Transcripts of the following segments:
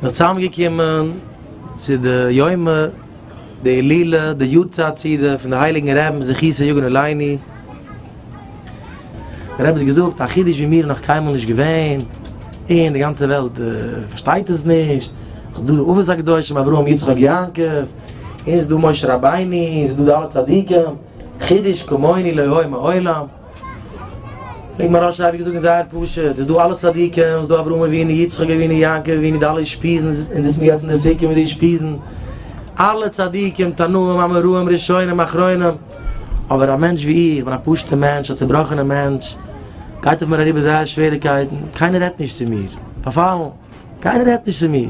מ'איז צוזאמגעקומען צו די יומא דהילולא די יארצייט סעודה פון די הייליגן רעבן זכותו יגן עלינו, דער רבי האט געזאגט א חידוש ווי מיר איז נאך קיינמאל נישט געווען, און די גאנצע וועלט פארשטייט עס נישט, ס'איז דא די אבות הקדושים אברהם יצחק יעקב, און ס'איז דא משה רבינו, און ס'איז דא די אלע צדיקים, חידוש כמוני לא היה מעולם. וועגן מוהראש אייביג זאגן זייער פשוט, ס'איז דא אלע צדיקים, ס'איז דא אברהם אבינו, יצחק אבינו, יעקב אבינו, די אלע אושפיזין, און זיצן די גאנצע נסיקין מיט די אושפיזין, אלע צדיקים, תנאים, אמוראים, ראשונים, אחרונים, אבער א מענטש ווי איך, כ'בין א פשוט'ע מענטש, א צובראכענע מענטש, גייט אויף מיר אריבער זייער שוועריקייטן, קיינער רעדט נישט צו מיר, פארפאלן, קיינער רעדט נישט צו מיר,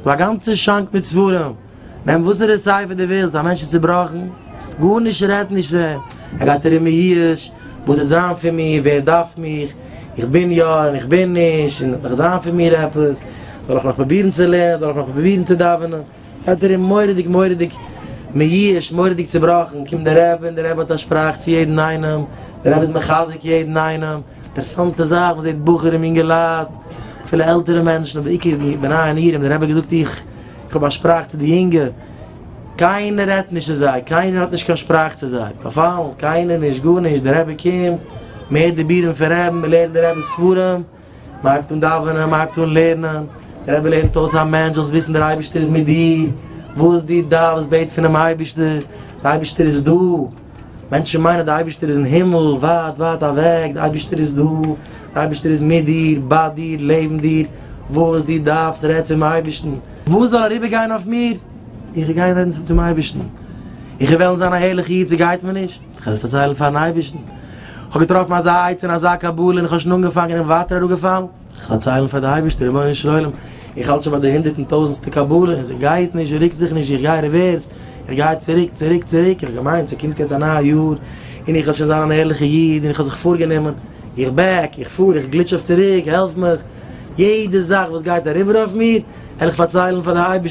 כ'האב א גאנצע שאנק מיט ספרים. נעם וואסערע ספר דו ווילסט, א מענטש איז צובראכן, גארנישט רעדט נישט צו אים, ער גייט ארום מיואש, וואס וועט זיין פון מיר, ווער דארף מיך, איך בין יא און איך בין נישט, און וועט נאך זיין פון מיר עפעס, זאל איך נאך פרובירן צו לערנען, זאל איך נאך פרובירן צו דאווענען, גייט ארום מורא'דיג מורא'דיג מיואש, מורא'דיג צובראכן, קומט דער רבי און דער רבי האט א שפראך צו יעדן איינעם, דער רבי איז מחזק יעדן איינעם, אינטערעסאנטע זאך, מען זעט בחורים, יונגעלייט, אפילו עלטערע מענטשן, אבער בעיקר די בני הנירים, דער רבי האט געזאגט איך איך האב א שפראך צו די יונגע, קיינער רעדט נישט צו זיי, קיינער האט נישט קיין שפראך צו זיי, פארפאלן, קיינער נישט, גארנישט, דער רבי קומט, מען הערט די בירעם פון רעבן, מען לערנט די רעבע'ס ספרים, מען הייבט אן דאווענען, מען הייבט אן לערנען, דער רבי לערנט אויס א מענטש, זאלסט וויסן דער אייבערשטער איז מיט דיר, וואס דו דארפסט בעט פונעם אייבערשטער, דער אייבערשטער איז דא. מענטשן מיינען די אייבערשטער איז אין הימל, ווייט ווייט אוועק, די אייבערשטער איז דא, די אייבערשטער איז מיט דיר, ביי דיר, לעבן דיר, וואס דו דארפסט רעד צום אייבערשטן. וואס זאל אריבער גיין אויף מיר? איך וועל גיין רעדן צום אייבערשטן. איך וועל וועלן זיין א הערליכע איד, ס'גייט מיר נישט, איך וועל עס פארציילן פאר'ן אייבערשטן. איך האב געטראפן אזא עצה און אזא קבלה און איך האב שוין אנגעפאנגען און ווייטער אראפגעפאלן. זיך פארציילן פאר די אייבערשטע, רבונו של עולם, איך האלט שוין ביי די הונדערט און טויזענסטע קבלה, און זי גייט נישט, זי רוקט זיך נישט, איך גיי רעווערס, איך גיי צוריק, צוריק, צוריק, איך האב געמיינט ס'קומט יעצט א נייע יאר, און איך וועל שוין זיין אן ערליכע איד, און איך האב זיך פארגענומען, איך בעק, איך פאר, איך גליטש אויף צוריק, העלף מיך, יעדע זאך וואס גייט אריבער אויף מיר, וועל איך פארציילן פאר די אייבערשטע.